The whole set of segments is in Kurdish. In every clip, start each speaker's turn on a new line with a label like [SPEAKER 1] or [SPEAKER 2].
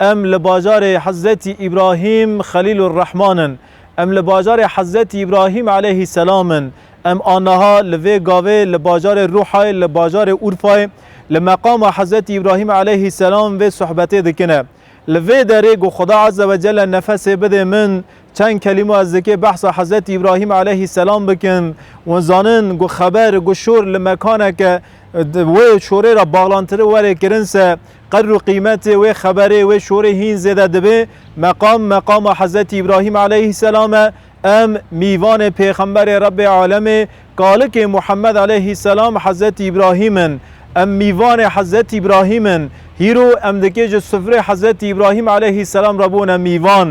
[SPEAKER 1] Em li bajarê Hezretî Îbrahîm Xelîlurrehman in. Em li bajarê Hezretî Îbrahîm Eleyhîsselam in. Em aniha li vê gavê li bajarê Rûhayê li bajarê Urfayê li meqama Hezretî Îbrahîm Eleyhîsselam vê sohbetê dikine. Li vê derê ku Xweda Ezze ve Celle nefesê bidê min çend kelîmo ez dikê behsa Hezretî Îbrahîm Eleyhîsselam bikim. Wan zanin ku xeber ku şor li mekaneke wê şorê re baxlantiri were kirin se. Qedr û qîmetê wê xeberê, wê şorê hîn zêde dibe. Meqam, meqama Hezretî Îbrahîm aleyhîsselam e. Em, mîvanê pêxemberê Rebbê alemê, kalikê Muhemmed aleyhîsselam Hezretî Îbrahîm in. Em mîvanê Hezretî Îbrahîm in. Hîro em dikê ji sufrê Hezretî Îbrahîm aleyhîsselam re bûne mîvan.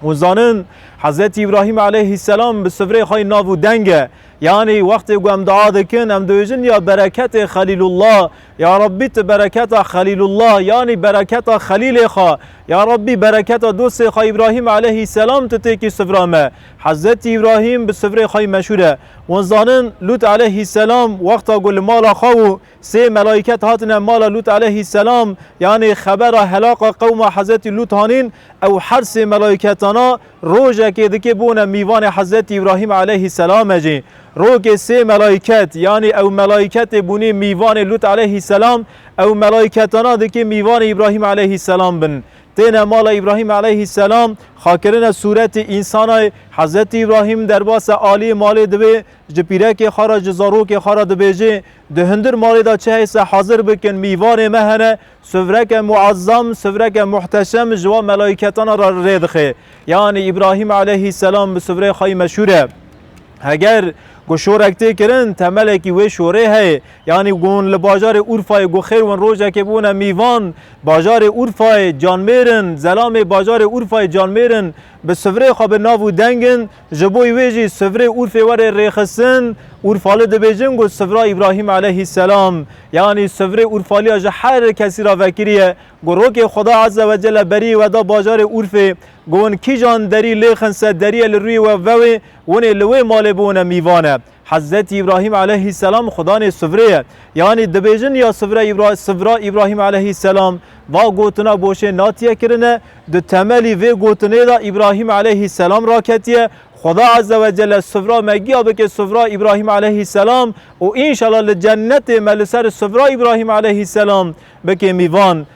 [SPEAKER 1] Hûn zanin Hezretî Îbrahîm aleyhîsselam bi sufrê xwe yê nav û deng e. Yanî wextê ku em dua dikin, em dibêjin, Ya bereketê Xelîlullah! Ya Rabbî tu bereketa Xelîlullah yanî bereketa Xelîlê xwe, ya Rabbî bereketa dostê xwe Îbrahîm eleyhî selam tu têkî sivra me. Hezretî Îbrahîm bi sivrê xwe meşhûr e. Wan zanin Lût eleyhî selam wexta ku li mala xwe bû sê melayîket hatine mala Lût eleyhî selam yanî xebera helaqa qewma Hezretî Lût hanîn ew her sê melayîketana Rojekê dikê bûne mîvanê Hezretî Îbrahîm eleyhî selame jî. Rokê sê melayket yanî ew melayketê bûnê mîvanê Lût eleyhî selam, ew melayketana dikê mîvanê Îbrahîm eleyhî selam bin. Têne mala Îbrahîm eleyhî selam, xakirine sûretê însanay Hezretî Îbrahîm derbase aliyê malê divê ji pîrekê xwe re ji zarokê xwe re dibêjê, Di hundir malê de çi heyse hazir bikin mîvanê me hene Sivreke muezzam, sivreke muhteşem ji wan melaîketana re rê dixe. Yanî Îbrahîm aleyhî selam bi sivrê xweyî meşhûr e. Heger ku şorek tê kirin, temelekî wê şorê heye. Yanî gon li bajarê Urfayê ku xêr win rojekê bûne mîvan, bajarê Urfayê, canmêrin, zelamê bajarê Urfayê canmêrin bi sivrê xwe bi nav û deng in. Ji bo wê jî sivrê Urfê were rêxistin, Urfali dibêjin ku sivra Îbrahîm eleyhîsselam, yanî sivrê Urfaliya ji her kesî re vekirî ye, ku rokê Xweda Eze Wecele berî we da bajarê Urfê, ku hûn kîjan derî lêxin se derîye li rûyê we vewê, winê li wê malê bûne mîvane. Hezretî Îbrahîm eleyhîsselam xudanê sivrê ye. Yanî dibêjin ya sivre Îbra sivra Îbrahîm eleyhîsselam. Va gotina boşê natiye kirine, di temelî vê gotinê de Îbrahîm eleyhîsselam raketiye, Xuda ezze ve celle sivra me giya bike sivra Îbrahîm eleyhîsselam û înşela li cennetê me li ser sivra Îbrahîm eleyhîsselam bike mîvan.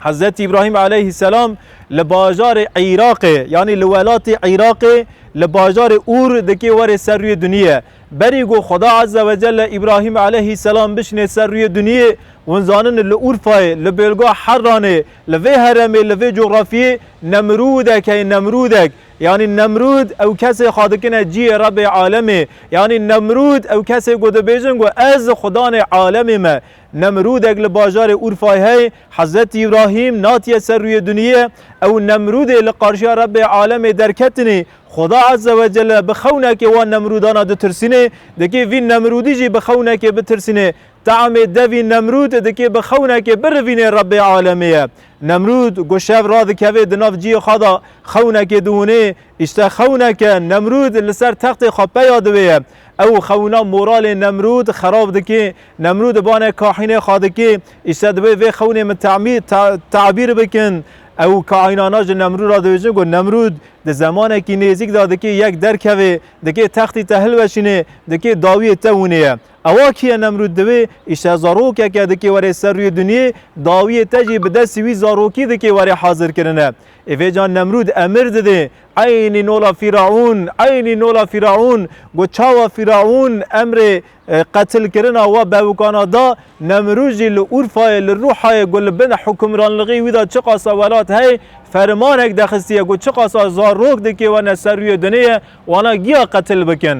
[SPEAKER 1] Hezret İbrahim aleyhisselam li bajarê Îraqê yanî li welatê Îraqê li bajarê Ûr dikê werê ser rûyê duniyê. Berî got Xweda Azze ve Celle İbrahim aleyhisselam bişinê ser rûyê duniyê hûn zanin li Urfayê, li bêlga Herranê, li vê heremê, li vê coxrafiyê Nemrûdek heye Nemrûdek. Yanî Nemrûd ew kesê xwe dikine cihê Rebê alemê. Yanî Nemrûd ew kesê ku dibêjin ku ez Xwedanê alemê me. Nemrûdek li bajarê Urfayê heye, Hezretî Îbrahîm natiye ser rûyê duniyê, ew Nemrûdê li qarşiya Rebbê alemê derketinê, Xweda Ezze ve Celle bi xewnekê wan Nemrûdana ditirsînê, dikê vîn Nemrûdî jî bi xewnekê bitirsînê. Teamê devî Nemrûd dikê bi xewnekê birivînê Rebbê alemê ye. Nemrûd ku şev radikevê di nav ciyê xwe de xewnekê diwinê, îşte xewnek e, Nemrûd li ser textê xwe peya diwê ye. Ew xewina moralê Nemrûd xerab dikê, Nemrû di banê kaînê xwe dikê, îşte divê vê xewnê min temî ta tabîr bikin. Ew kaînana ji Nemrû ra dibêjin ku Nemrûd di zemanekî nêzîk de dikê yek derkevê, dikê textî te hilweşînê, dikê dawiyê te winê ye. Ewa kî ye Nemrûd divê îşte zarokeke dikê were ser rûyê dinyê, dawiyê te jî bi destî wî zarokî dikê were hazir kirine. Êvêcan Nemrûd emir didê, Eynî nola Fîraûn, eynî nola Fîraûn, ku çawa Fîraûn emrê Qetilkirina we bevikana da Nemrûz jî li Urfayê li Rûhayê ku li bin hukimranligî wî de çiqasa welat heye, fermanek dexistiye ku çiqasa zarok dikêwene ser rûyê duniyê wana giya qetil bikin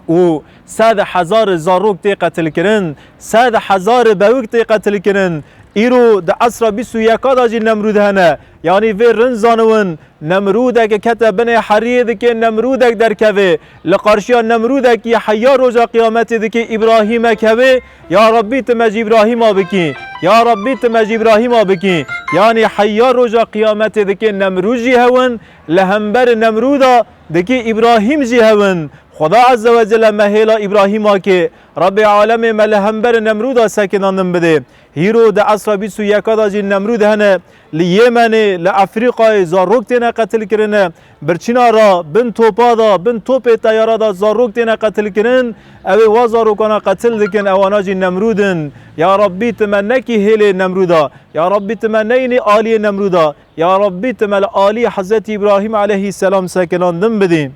[SPEAKER 1] û sed hezar zarok tê qetilkirin, sed hezar bevik tê qetilkirin. Îro di esra bîst û yeka de jî Nemrûz hene, yanî vê rind zaniwin Nemrûdeke kete binê heriyê dikê Nemrûdek derkevê. Li qarşiya Nemrûdekî heya roja qiyametê dikê Îbrahîmek hevê, Ya Rabbî ti me ji Îbrahîma bikî, Ya Rabbî ti me ji Îbrahîma bikî. Yanî heya roja qiyametê dikê Nemrûd jî hewin, li hemberî Nemrûda dikê Îbrahîm jî hewin. Xweda Ezze we Celle me hêla Îbrahîma kê. Rabbê Alemê me li hemberî Nemrûda sekinandin bidê. Hîro di esra bîst û yeka de jî Nemrûd hene. Li Yêmenê, li Efrîqayê zarok têne qetilkirin. Birçîna ra bin topa da, bin topê teyara da zarok têne qetilkirin. Ew ê wa zarokana qetil dikin, ewana jî Nemrûd in. Ya Rabbî tu me nekî hêlê Nemrûda. Ya Rabbî tu me neyînî aliyê Nemrûda. Ya Rabbî tu me li aliyê Hezretî Îbrahîm eleyhîsselam sekilan din bidî.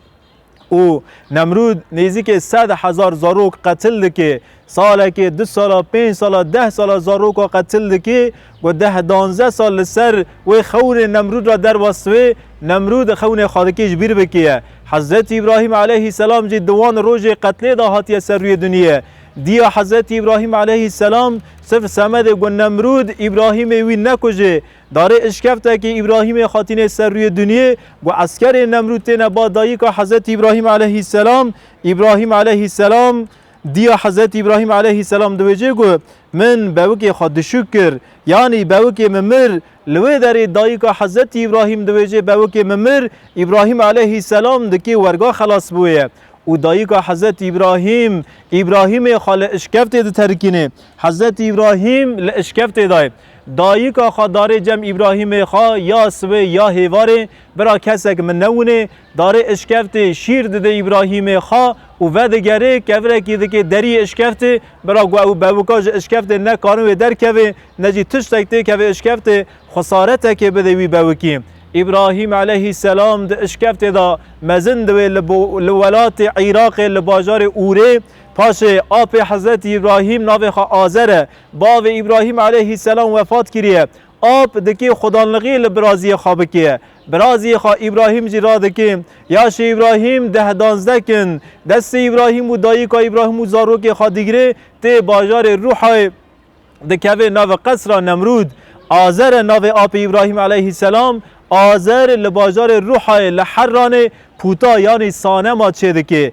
[SPEAKER 1] û Nemrûd nêzîkê sed hezar zarok qetil dike, salekê, du sala, pênc sala, deh sala zaroka qetil dike, ku deh danze sal li ser wê xewnê Nemrûd re derwest be, Nemrûd xewnê xwe dike ji bîr bikêye. Hezretî Îbrahîm aleyhî selam jî di wan rojê qetlê de hatiye ser rûyê dinyê. Diya Hezretî Îbrahîm aleyhî selam sifr semedê ku Nemrûd Îbrahîmê wî nekuje, Darê îşkevtekê Îbrahîmê hatînê ser rûyê dinyê ku eskerê Nemrûd têne ba dayîka Hezretî Îbrahîm eleyhîsselam. Îbrahîm eleyhîsselam dîya Hezretî Îbrahîm eleyhîsselam diwêjê ku Min bewikê xwe dişûk kir yanî bewikê min mir. Li wê derê dayîka Hezretî Îbrahîm diwêjê bewikê min mir Îbrahîm eleyhîsselam di kê werga xelas bû ye û dayîka Hezretî Îbrahîm Îbrahîmê xwe li îşkevtê diterikînê. Hezretî Îbrahîm li îşkevtê dayê. Dayika xwe darê cem Îbrahîmê xwe ya siwê ya hêvarê bira kesek min newinê, darê işkeftê şîr didê Îbrahîmê xwe û vedigerê kevirekî dikê deriyê işkeftê bira ku ew bewika ji işkeftê nekarin wê derkevê ne jî tiştek têkeve işkeftê xesaretekê bidê wî bewikî. Îbrahîm eleyhî selam di işkeftê de mezin diwê li li welatê Îraqê li bajarê Urê paşê apê Hezretî Îbrahîm navê xwe Azer e Bavê Îbrahîm eleyhî selam wefat kiriye. Ap dikê xwedanlixî li biraziyê xwe bikê. Biraziyê xwe Îbrahîm jî radikê. Yaşê Îbrahîm deh danzdeh kin. Destê Îbrahîm û dayika Îbrahîm û zarokê xwe digirê tê bajarê Rûhayê dikevê navê qesra Nemrûd. Azer e navê apê Îbrahîm eleyhî selam. Azer li bajarê Rûhayê li Herranê pûta yanî sanema çêdikê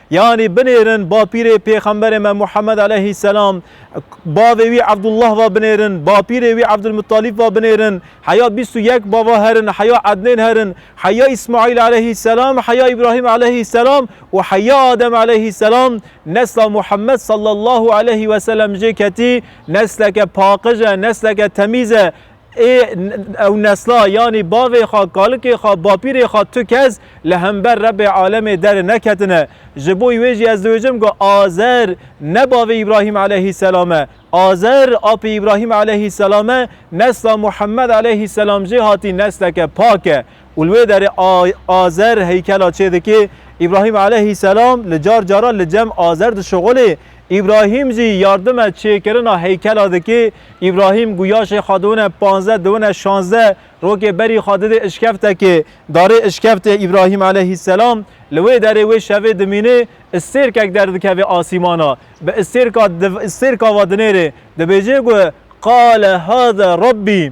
[SPEAKER 1] Yanî binêrin bapîrê pêxemberê me Muhammed aleyhî selam, bavê wî Ebdullah va binêrin, bapîrê wî Ebdulmuttalîb va binêrin, heya bîst û yek bava herin, heya Ednên herin, heya Îsmaîl aleyhî selam, heya Îbrahîm aleyhî selam û heya Adem aleyhî selam. Nesla Muhammed sallallahu aleyhî weselem jê ketî nesleke paqij e, nesleke temîz e. Ê ew nesla yanî bavê xwe, kalikê xwe, bapîrê xwe tu kes li hember Rebê alemê dere neketine. Ji bo wê jî ez diwêjim ku Azer ne bavê Îbrahîm eleyhîsselam e. Azer apê Îbrahîm eleyhîsselam e, nesla Muhemmed eleyhîsselam jê hatî nesleke pak e û li wê derê Azer heykela çê dikê. Îbrahîm eleyhîsselam li car caran li cem Azer dişuxulê. Îbrahîm jî yardime çêkirina heykela dikê. Îbrahîm guya jê xwe diwine panzdeh diwine şanzdeh rokê berî xwe didê îşkeftekê. Darê îşkeftê Îbrahîm eleyhîsselam li wê derê wê şevê dimînê îstêrkek derdikeve asîmana. Bi îstêrka îstêrka ve dinêrê dibêje ku, Qale hada Rabbî.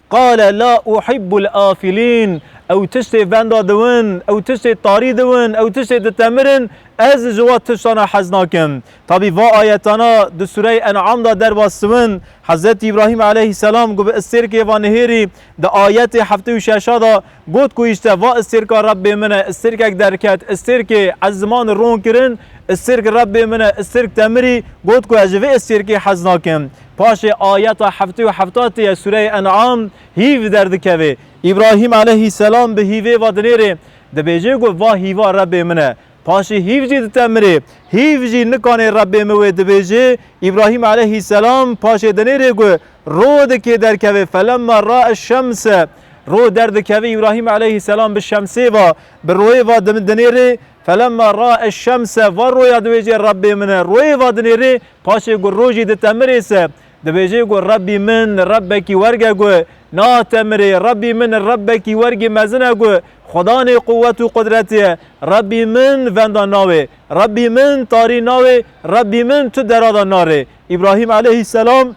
[SPEAKER 1] Qale la uhibbul afilîn, ew tiştê venda diwin, ew tiştê tarî diwin, ew tiştê ditemirin, ez ji wa tiştana hez nakim. Tabî va ayetana di sûreyê En'am da derbas diwin. Hezretî Îbrahîm aleyhîsselam ku bi îstêrkê va nihêrî di ayetê heftê û şeş a da got ku îşte va îstêrka Rebbê min e, îstêrkek derket, îstêrkê ez ziman ron kirin, îstêrk Rebbê min e, îstêrk temirî, got ku ez ji vê îstêrkê hez nakim. Paşê ayeta heftê û heftatê ya sûreyê En'am hîv derdikeve. Îbrahîm aleyhîsselam bi hîvê va dinêrê, dibêje ku va hîva Rebbê min e. Paşê hîv jî dite mirê. Hîv jî nikanê Rebbê min wê dibêje. Îbrahîm aleyhîsselam paşê dinêrê ku ro dikê derkeve, felemma ra'a eş-şemse, ro derdikeve, Îbrahîm aleyhîsselam bi şemsê va, bi royê va dinêrê, felemma ra'a eş-şemse, va roya dibêje Rebbê min e, royê va dinêrê, Paşê ku rojî ditemirê se, dibêjê ku Rebbî min, Rebbekî werg e ku natemirê, Rebbî min, Rebbekî wergî mezin e ku xwedanê quwet û qudretê ye, Rebbî min venda nawê, Rebbî min tarî nawê, Rebbî min tu dera de narê. Îbrahîm eleyhîsselam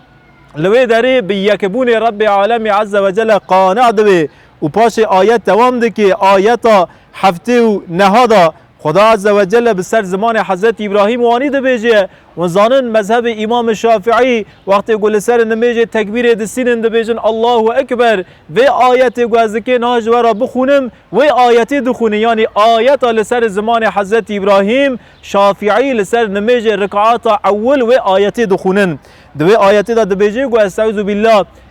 [SPEAKER 1] li wê derê bi yekbûnê Rebbê alemî eze ve cele qane dibê û paşê ayet dewam dike, ayeta heftê û neha de, Xuda Azze ve Celle bi ser zimanê Hezretî Îbrahîm û anî dibêje, Hûn zanin mezhebê Îmamê Şafiî wextê ku li ser nimêjê tekbîrê distînin dibêjin Allahu Ekber, vê ayetê ku ez dikê niha ji we re bixwînim wê ayetê dixwînin yanî ayeta li ser zimanê Hezretî Îbrahîm, Şafiî li ser nimêjê rikata ewil wê ayetê dixwînin. Di wê ayetê de dibêje ku Esteuzubillah.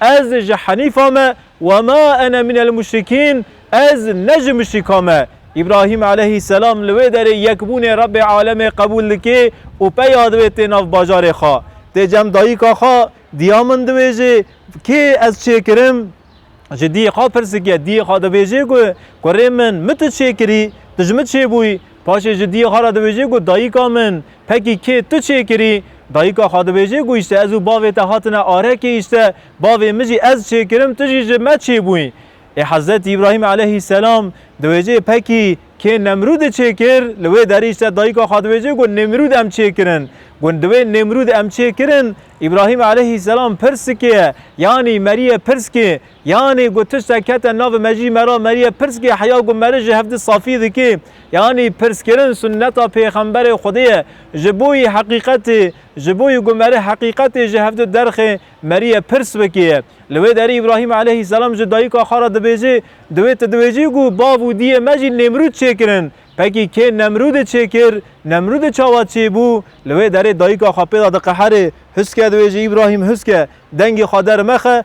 [SPEAKER 1] Ez ji henîfa me, wema ene min el muşrikîn, ez ne ji muşrîkan me. Îbrahîm eleyhî selam li wê derê yekbûnê Rebbê alemê qebûl dike û peya divê tê nav bajarê xwe. Tê cem dayika xwe, diya min dibêje, kê ez çê kirim? Ji diyê xwe pirsike, diyê xwe dibêje ku kurê min, min tu çê kirî, tu ji min çê bûyî? Paşê ji diyê xwe re dibêje ku dayika min, pekî kê tu çêkirî? Dayika xwe dibêje ku îşte ez û bavê te hatine arekê îşte bavê min jî ez çêkirim tu jî ji me çêbûyî. Ê Hezretî Îbrahîm eleyhî selam dibêje pekî kê Nemrûdê çêkir? Li wê derî îşte dayika xwe dibêje ku Nemrûd em çêkirin. Ku di wê Nemrûd em çêkirin, Îbrahîm eleyhî selam pirs dike, yanî merîye pirs kê Yanî ku tiştek kete navê me jî me ra meriye pirsgê heya ku meric ji hev di safî dikê. Yanî pirskirin sunneta pêxemberê Xwedê ye. Ji bo yî heqîqetê, ji bo yî ku meric heqîqetê ji hev di derxê, meriye pirs bikê ye. Li wê derî Îbrahîm eleyhîsselam ji dayika xwe ra dibêjê, Divê tu dibêjî ku bav û diyê me jî Nêmrûd çêkirin. Pekî kê Nemrûdê çêkir, Nemrûdê çawa çêbû? Li wê derê dayika xwe pê de diqeherê, Huske dibêjê Îbrahîm huske, dengê xwe dermexe,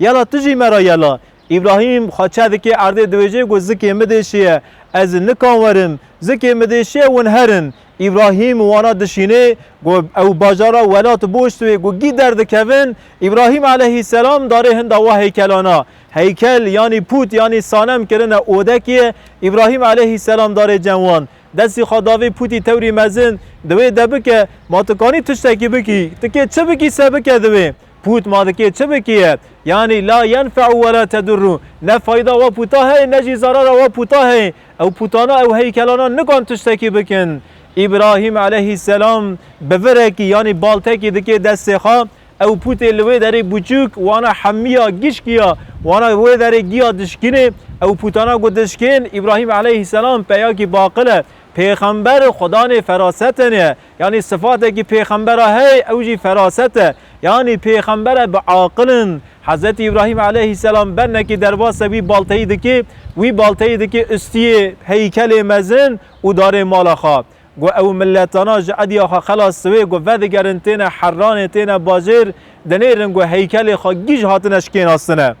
[SPEAKER 1] Yala tu jî me ra yela. Îbrahîm xwe çedikê erdê dibêje ku zikê min dê şiye. Ez nikan werim. Zikê min dê şiye hûn herin. Îbrahîm û wana dişînê ku ew bajara welat boşt wê ku gî derdikevin. Îbrahîm eleyhîsselam darê hinda wa heykelana. Heykel yanî pût yanî sanem kirine odekê. Îbrahîm eleyhîsselam darê cem wan. Destî xwe da vê pûtî tewrî mezin. Di wê de bike. Ma tu kanî tiştekî bikî? Ti kê çi bikî se bike di wê? Pût ma dikê çi bikiye? Yanî la yenfe'u we la tedurru, ne fayda we pûta heye ne jî zerara we pûta heye. Ew pûtana, ew heykelana nikan tiştekî bikin. Îbrahîm eleyhîsselam bi virekî yanî baltekî dikê destê xwe, ew pûtê li wê derê bûçûk wana hemiya gişkiya, wana wê derê giya dişkinê, ew pûtana got dişkên, Îbrahîm eleyhîsselam peyakî baqil e, pêxember, xwedanê ferasetên e. Yanî sifatekî pêxembera heye ew jî feraset e. Yanî pêxembere bi aqil in. Hezretî Îbrahîm eleyhîsselam bennekî derbasê wî balteyî dikê, wî balteyî dikê ustiyê heykelê mezin û darê mala xwe. Got ew miletana ji ediya xwe xelas siwê, got vedigerin têne Herranê têne bajêr, dinêrin got heykelê xwe gîj hatine şikênastine.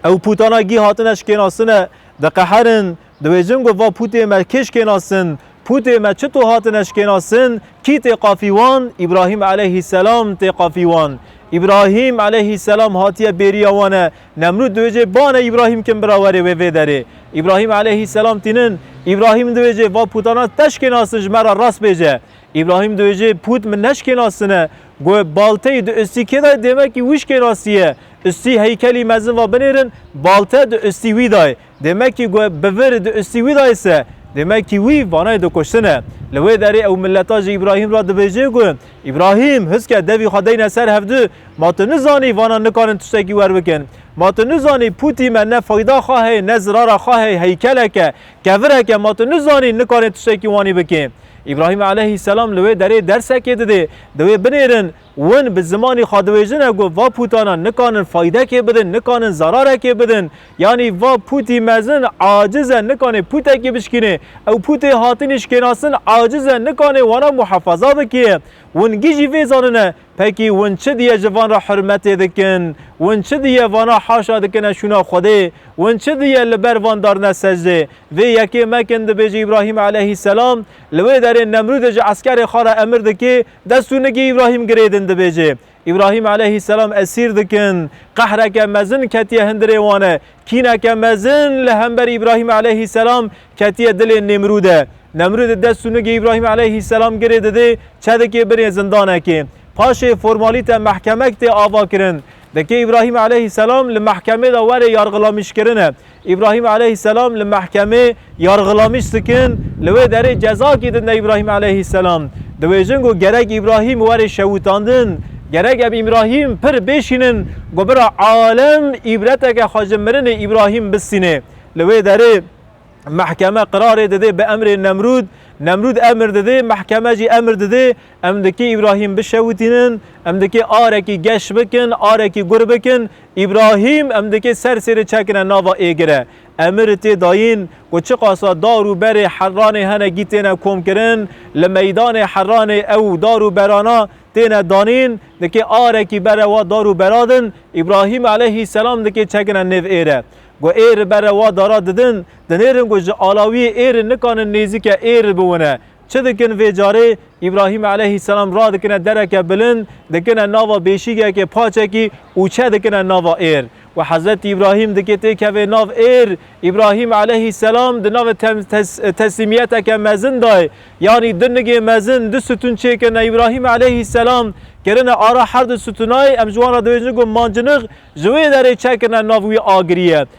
[SPEAKER 1] Ew pûtana gî hatine şikênasine, diqeherin, dibêjin ku va pûtê me kê şikênasin, pûtê me çito hatine şikênasin, kî tê qafî wan, Îbrahîm eleyhî selam tê qafî wan. Îbrahîm eleyhî selam hatiye bêriya wan e, Nemrûd dibêje bane Îbrahîm kim bira were wê vê derê. Îbrahîm eleyhî selam tînin, Îbrahîm dibêje va pûtana te şikênasin ji me re rast bêje. Îbrahîm dibêje pût min neşikênasine, Guh balteyî di ustî kê dayê dêmekî wîşkê ra sîye. Ustî heykelî mezin va binêrin balte di ustî wî dayê. Dêmekî guh bi vir di ustî wî dayê se? Dêmekî wî vanayê di kuştin e. Li wê derê ew mileta ji Îbrahîm ra dibêjê guh Îbrahîm huske devî xwe deyne ser hev di ma tu nizanî vanan nikarin tiştekî wer bikin. Ma tu nizanî pûtî me ne feyda xwe heye ne zirara xwe heye heykeleke Kevireke ma tu nizanî nikarê tiştekî wanî bikê. Îbrahîm eleyhî selam li wê derê dersekê didê, di wê binêrin, win bi zimanî xwe diwêjine ku va pûtanan nikanin faydekê bidin, nikanin zerarekê bidin, yanî va pûtî mezin aciz e nikanê pûtekî bişkînê, ew pûtê hatinî şikênasin aciz e nikanê wana muhefaza bikê. Win gijî vê zanine Pekî win çi diye ji van re hurmetê dikin? Win çi diye vana haşa dikine şûna Xwedê? Win çi diye li ber van darine secdê? Vê yekê mekin dibêje Îbrahîm eleyhîsselam. Li wê derê Nemrûdê ji eskerê xwe re emir dike destû nigê Îbrahîm girêdin dibêje. Îbrahîm eleyhîsselam esîr dikin. Qehreke mezin ketiye hundirê wan e. Kîneke mezin li hember Îbrahîm eleyhîsselam ketiye dilê Nemrûdê. Nemrûd dest û nigê Îbrahîm eleyhîsselam girê didê çedikê binê zindanekê. Paşê formalîte mehkemek tê avakirin. Dikê Îbrahîm eleyhîsselam li mehkemê de were yargilamîjkirine. Îbrahîm eleyhîsselam li mehkemê. Yargılamış sikin, li wê derê cezakî din de Îbrahîm eleyhîsselam. Diwêjin ku gerek Îbrahîm were şewitandin, gerek ev Îbrahîm pir bêşînin ku bira alem îbreteke xwe ji mirinê Îbrahîm bistînê. Li wê derê mehkeme qirarê didê bi emrê Nemrûd, Nemrûd emir didê, mehkeme jî emir didê, em dikê Îbrahîm bişewitînin, em dikê arekî geş bikin, arekî gur bikin, Îbrahîm em dikê ser sêrê çekine nava êgire. Emir tê dayîn ku çiqasa dar û berê Herranê hene gî têne komkirin, li meydanê Herranê ew û dar û berana têne danîn, dikê arekî bere wa dar û bera din, Îbrahîm eleyhî selam dikê çegine nêv êre. Ku êr bere wa dara didin, dinêrin ku ji alawiyê êrin nikanin nêzîke êr biwine, Çi dikin vê carê? Îbrahîm eleyhîsselam radikine dereke bilind, dikine nava bêşîgekê paçekî û çedikine nava êr. We Hezretî Îbrahîm dikê têkeve nav êr. Îbrahîm eleyhîsselam di navê teslîmiyeteke mezin de ye. Yanî du nigê mezin, du sitûn çêkirine. Îbrahîm eleyhîsselam kirine ara her du sitûnayê, em ji wan re dibêjin ku mancinix, ji wê derê çekirine nav wî agiriyê.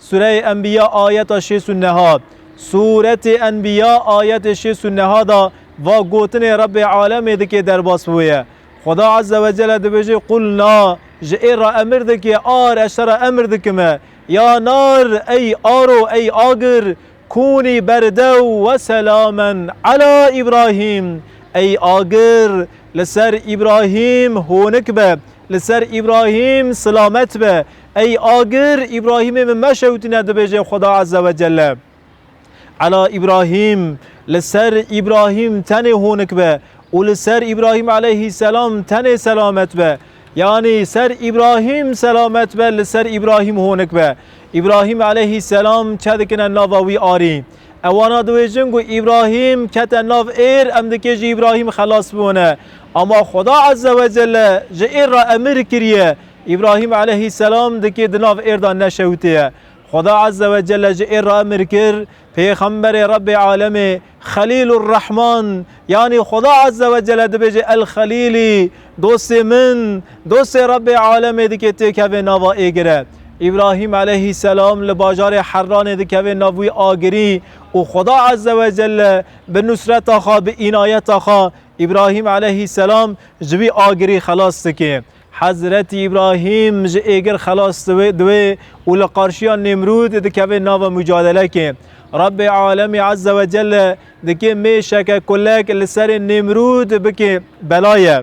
[SPEAKER 1] Sureyê Enbîya ayeta şêst û neha Suretê Enbîya ayetê şêst û neha de va gotinê Rebbê Alemê dike derbas bi wê ye. Xweda Ezze ve Celle dibêje Qul na, ji ê re emir dike, ar, ez te re emir dikime, ya nar, ey aro, ey agir, kûnî berdew we selamen ela Îbrahîm, ey agir, li ser Îbrahîm honik be, li ser Îbrahîm silamet be, Ey agir, Îbrahîmê min meşewitîne dibêje Xweda Eze ve Celle. Ela Îbrahîm, li ser Îbrahîm tenê honik be û li ser Îbrahîm eleyhî selam tenê selamet be. Yanî ser Îbrahîm selamet be li ser Îbrahîm honik be. Îbrahîm eleyhî selam çedikine nava wî arî. Ewana diwêjin ku Îbrahîm kete nav êr em dikê ji Îbrahîm xelas biwine. Ama Xweda Eze ve Celle ji êr re emir kiriye Îbrahîm eleyhî selam dikê di nav êr de neşewitê ye. Xweda Ezze ve Celle ji êr re emir kir, Pêxemberê Rebbê Alemê, Xelîlur Rehman, yanî Xweda Ezze ve Celle dibêje El Xelîlî, dostê min, dostê Rebbê Alemê dikê têkevê nava êgir e. Îbrahîm eleyhî selam li bajarê Herranê dikevê nav wî agirî û Xweda Ezze ve Celle bi nusreta xwe, bi înayeta xwe Îbrahîm eleyhî selam ji wî agirî xelas dike. Hezretî Îbrahîm ji êgir xelas dibe û li qarşiya Nêmrûd dikeve nava mucadelekê. Rebbê alemî ezze ve celle dikê mêşeke kulek li serê Nêmrûd bike belaye.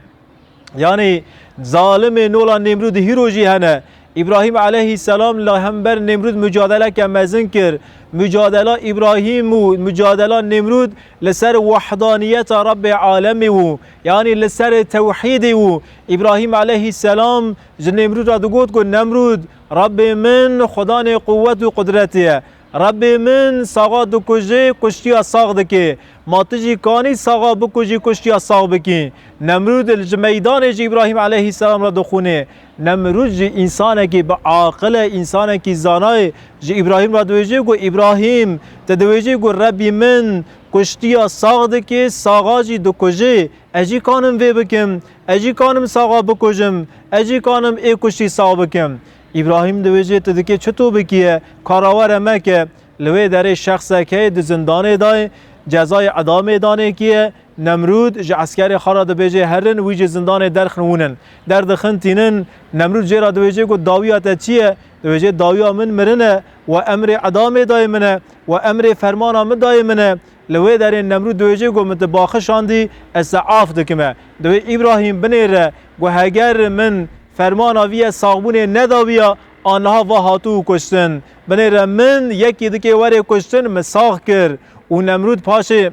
[SPEAKER 1] Yanî zalimê nola Nêmrûd hîro jî hene. Îbrahîm eleyhî selam li hember Nêmrûd mucadeleke mezin kir. Mucadela Îbrahîm û mucadela Nêmrûd li ser wahdaniyeta Rebbê alemî û Yanî li ser tewhîdê û Îbrahîm eleyhî selam ji Nemrûd re digot ku Nemrûd Rebê min Xwedanê quwet û qudretê ye. Rebê min saxa dikuje, kuştiya sax dike. Ma tu jî kanî saxa bikujî kuştiya sax bikî? Nemrûd li ji meydanê ji Îbrahîm eleyhî selam re dixwîne. Nemrûd jî însanekî bi aqil e, însanekî zana ye. Ji Îbrahîm re diwêje ku Îbrahîm, tu diwêjî ku Rebî min, Kuştiya sax dikê, saxa jî dikujê. Ez jî kanim vê bikim. Ez jî kanim saxa bikujim. Ez jî kanim ê kuştî sax bikim. Îbrahîm di wê jê tu dikê çi tu bikiye, kara we re meke. Li wê derê şexsek heye di zindanê da ye, cezayê idamê danê kiye. Nemrûd ji eskerê xwe re dibêje herin, wî ji zindanê derxin wûnin. Derdixin tînin. Nemrûd jê re dibêje ku dawiya te çi ye? Dibêje dawiya min mirin e. We emrê idamê dayê min e. We emrê fermana min dayê min e. Li wê derê Nemrûd dihêjê ku min tu baxişandî, ez te af dikim e. Divê Îbrahîm binêre ku heger min fermana vî yê saxbûnê nedabîya, an niha va hatibû kuştin. Binêre min yekî dikê werê kuştin min sax kir. Û Nemrûd paşê.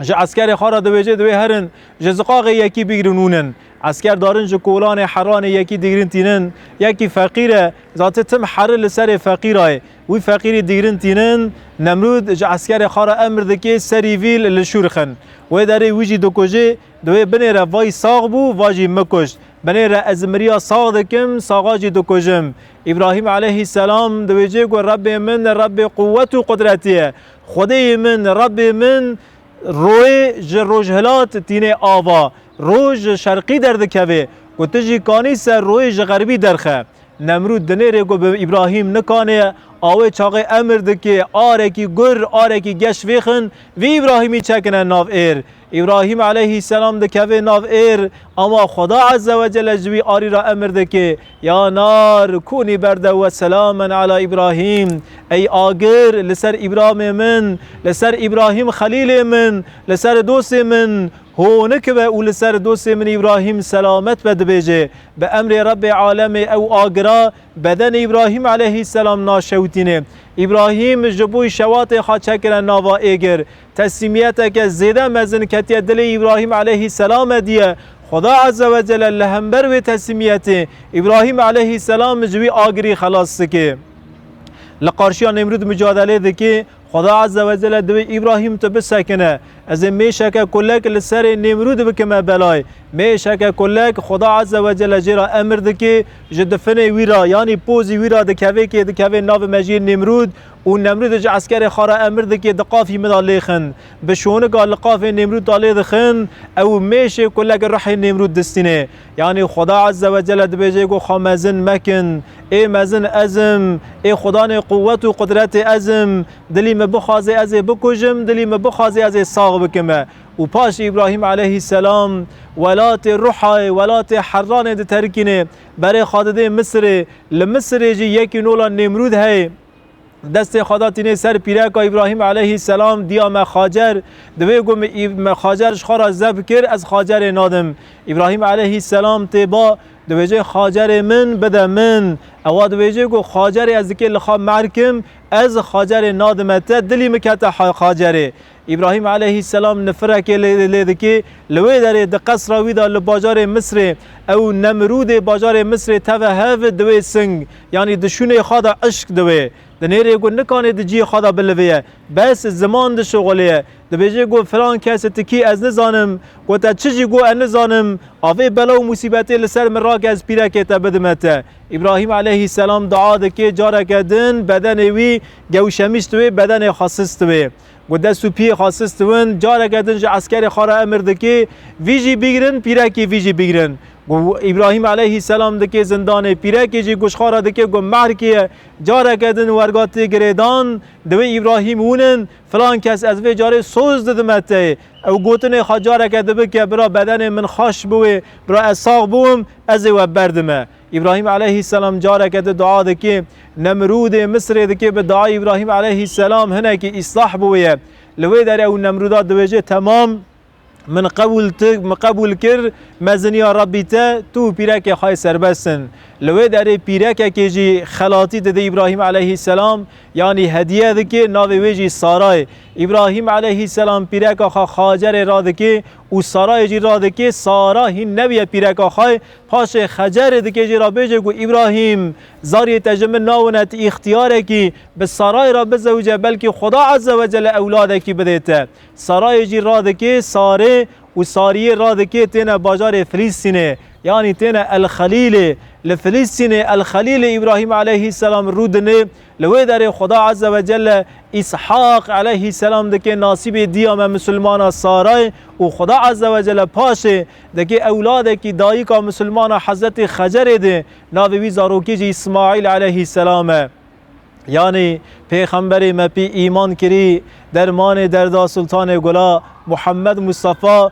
[SPEAKER 1] Ji eskerê xwe re dibêje divê herin ji ziqaxê yekî bigrin û nin. Esker darin ji kolanê heranê yekî digrin tînin. Yekî feqîr e, zati tim heri li serê feqîra ye. Wî feqîrî digrin tînin. Nemrûd ji eskerê xwe re emr dike serî vî li şûr xin. Wê derê wî jî dikujê. Di wê binê re vay sax bû, va jî mikuşt. Binê re ez miriya sax dikim, saxa jî dikujim. Îbrahîm eleyhî selam dibêje ku Rebê min Rebê quwet û qudretê ye. Xwedêyê min, Rebbê min, royê ji rojhilat tînê ava, roj ji şerqî derdikevê ku tu jî kanî ser royê ji xerbî derxe. Nemrûd dinêrê ku bi Îbrahîm nikanê, awê çaxê emir dikê, arekî gur, arekî geş vêxin, vê Îbrahîmî çekine nav êr. Îbrahîm eleyhî selam dikeve nav êr, ama Xweda Ezze ve Celle ji wî arî re emir dike, Ya nar, kûnî berde we selamen ala Îbrahîm, Ey agir, li ser Îbramê min, li ser Îbrahîm xelîlê min, li ser dostê min honik be û li ser dostê min Îbrahîm selamet be dibêje. Bi emrê Rebbê alemê ew agira bedenê Îbrahîm eleyhî selam naşewitîne. Îbrahîm ji bo şewatê xwe çekire nava êgir. Teslîmiyeteke zêde mezin ketiye dilê Îbrahîm eleyhî selame diye. Xweda eze we cele li hember wê teslîmiyetê Îbrahîm eleyhî selam ji wî agirî xelas dike. Li qarşiya Nemrûd micadelê dike, Xweda eze we cele divê Îbrahîm tu bisekine. Ez ê mêşeke kulek li serê Nemrûd bikime belay. Mêşeke kulek Xweda eze we cele jê re emir dike, ji difinê wî re yanî pozî wî re dikeve kê dikeve navê mejiyê Nemrûd, Û Nemrûdê ji eskerê xwe re emir dike diqafî min da lêxin. Bi şonika liqafê Nemrûd da lê dixin, ew û mêşê ku lek rihê Nemrûd distîne. Yanî Xweda Ezze Wecelle dibêje ku xwe mezin mekin. Ê mezin ez im, ê Xwedanê quwet û qudretê ez im. Dilî min bixwaze ez ê bikujim, dilî min bixwaze ez ê sax bikim. Û paşê Îbrahîm eleyhî selam welatê Ruhayê, welatê Herranê diterikîne. Berê xwe didê Misirê. Li Misirê jî yekî nola Nêmrûd heye. Destê xwe da tînê ser pîreka Îbrahîm eleyhî selam, diya me Xacer. Di wê ku me Xacer ji xwe re zeb kir, ez Xacerê nadim. Îbrahîm eleyhî selam tê ba, dibêje Xacerê min bide min. Ewa dibêje ku Xacerê ez dikê li xwe merkim, ez Xacerê nadime te, dilî min kete Xacerê. Îbrahîm eleyhîsselam nifirekê lê dikê, li wê derê di qesra wî de li bajarê Misrê, ew Nemrûdê bajarê Misrê teve hev, di wê sing, yanî di şûnê xwe de eşq di wê. Di nêrê ku nikanê di ciyê xwe de bilivîye. Bes ziman dişixulîye. Dibêje ku filan kes ti kî ez nizanim, ku te çi jî ku ez nizanim, avê bela û musîbetê li ser min rake ez pîrekê te bidime te. Îbrahîm eleyhîsselam dua dikê, careke din bedenê wî gewşemîst wê, bedenê xwe sist wê. Ku dest û piyê xwe sis diwin, careke din ji eskerê xwe re emir dikê, Vî jî bigrin, pîrekê vî jî bigrin. Ku Îbrahîm eleyhîsselam dikê zindanê, pîrekê jî ku ji xwe re dikê ku mehr kê ye, careke din werga tê girêdan, Divê Îbrahîm hûnin, filan kes ez vê carê soz didime te yê. Ew gotinê xwe careke din bike, Bira bedenê min xweş bû wê, bira ez sax bûm, ez ê we berdime. Îbrahîm eleyhî selam careke di dua dike, Nemrûdê Misirê dike bi duayê Îbrahîm eleyhî selam hinekî îslah bi wê ye. Li wê derê ew Nemrûda dibêje temam min qebûl ti min qebûl kir me ziniya Rabbî te tu û pîrekê xwe serbest in. Li wê derê pîrekekê jî xelatî dide Îbrahîm eleyhî selam yanî hediye dike navê wê jî Sara ye. Îbrahîm eleyhî selam pîreka xwe Xacerê radike û Sarayê jî radike Sara hîn nebiye pîreka xwe Paşê Xecerê dikê jê ra bêjê ku Îbrahîm, zariyê te ji min nawine ti îxtiyarekî bi Sarayê ra bizewije belkî Xweda Eze we Cele ewladekî bidê te. Sarayê jî radikê Sarê û Sariyê radikê têne bajarê Filîstînê yanî têne El Xelîlê. Li Filîstînê El Xelîlê Îbrahîm eleyhî selam rû dinê. Li wê derê Xweda Ezze ve Celle Îshaq eleyhî selam dike nasîbê diya me misilmana Saray û Xweda Ezze ve Celle paşê dike ewladekî dayika misilmana Hezretî Xecerê di navê wî zarokê jî Îsmaîl eleyhî selam e. Yanî pêxemberê me pî îman kirî dermanê derda Sultanê Gula Muhammed Mustafa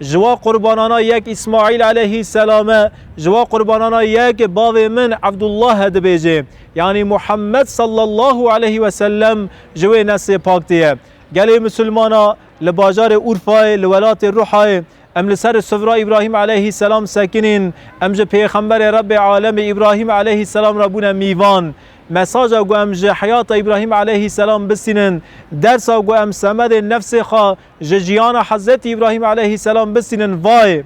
[SPEAKER 1] Ji wan qurbanana yek Îsmaîl eleyhî selam e, ji wan qurbanana yek bavê min Ebdullah e dibêjê, yanî Muhammed sallallahu eleyhî ve sellem ji wê neslê pak tê ye. Gelê Misilmana li bajarê Urfayê li welatê Ruhayê, em li ser sifra Îbrahîm eleyhî selam sekinîn, em ji pêxemberê Rebê alemê Îbrahîm eleyhî selam re bûne mîvan. Mesaja ku em ji heyata Îbrahîm eleyhî selam bistînin, dersa ku em semedên nefsê xwe Ji jiyana Hezretî Îbrahîm eleyhîsselam bisînin vayê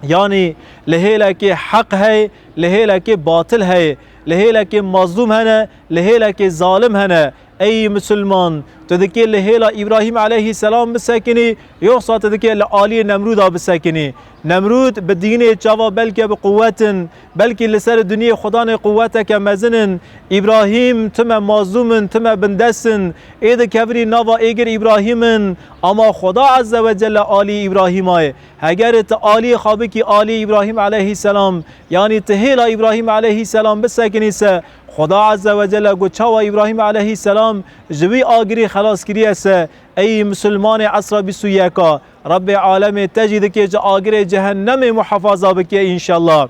[SPEAKER 1] yanî li hêlekê heq heye, li hêlekê batil heye, li hêlekê mazlûm hene, li hêlekê zalim hene. Ey misilman, tu dikê li hêla Îbrahîm eleyhîsselam bisekinî, yoxsa tu dikê li aliyê Nemrûda bisekinî. Nemrûd bi dînê çava belke bi quwetin, Belkî li ser duniyê xwedanê quweteke mezin in, Îbrahîm, tu me mazlûm in, tu me bindest in. Ê dikevirî nava êgir Îbrahîm in. Ama xweda Ezze wecelle alî Îbrahîma ye. Hegerê tu alî xwe bikî alî Îbrahîm eleyhîsselam, yanî tu hêla Îbrahîm eleyhîsselam bisekinî se, xweda Ezze wecelle got çawa Îbrahîm eleyhîsselam ji wî agirî xelas kiriye se, ey musulmanê esra bîst û yek a. Rabbê alemê te jî dikê ji agirê cehennemê muhefaza bike înşellah.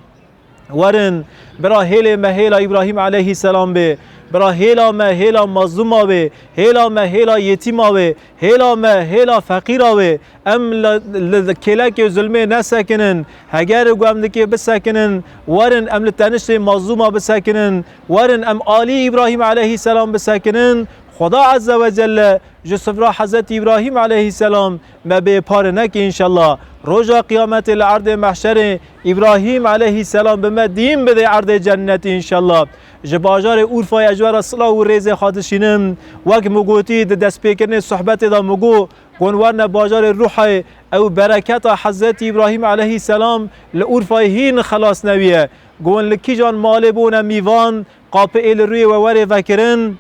[SPEAKER 1] Werin bira hêlê me hêla Îbrahîm eleyhîsselam bê. Bira hêla me hêla mazlûma wê, hêla me hêla yetîma wê, hêla me hêla feqîra wê. Em li li kêlekê zulmê nesekinin. Heger ku em li kê bisekinin, werin em li teniştê mazlûma bisekinin. Werin em alî Îbrahîm eleyhîsselam bisekinin. Xweda Ezzewecelle Ji sifra Hezretî Îbrahîm eleyhîsselam me bê pare neke înşellah. Roja Qiyametê li erdê mehşerê Îbrahîm eleyhîsselam bi me dîn bidê erdê cennetê înşellah. Ji bajarê Urfayê ez ji we re silaw û rêzê xwe dişînim. Wek min gotî di destpêkirinê sohbetê de min got, Gon werne bajarê Ruhê ew bereketa Hezretî Îbrahîm eleyhîsselam li Urfayê hîn xelas newiye. Gon li kîjan malê bûne mîvan, qapê ê li rûyê we werê vekirin?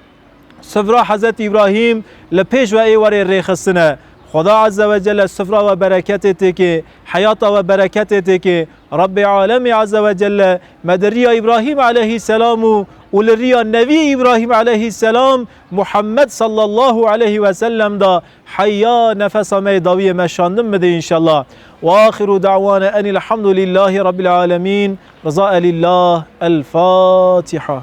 [SPEAKER 1] Sifra Hezret İbrahim li pêş ve ê werê rêxistine. Xweda Azze ve Celle sifra ve bereketê têkê, heyata ve bereketê têkê. Rabbê Alemê Azze ve Celle me di riya İbrahim aleyhîsselam û û li riya Nevî İbrahim aleyhîsselam Muhammed sallallahu aleyhi ve sellem da heya nefesa me yê dawiyê me şandin bide înşallah. Ve axiru dawane enilhamdulillahî rabbil alemin. Rıza elillah. El Fatiha.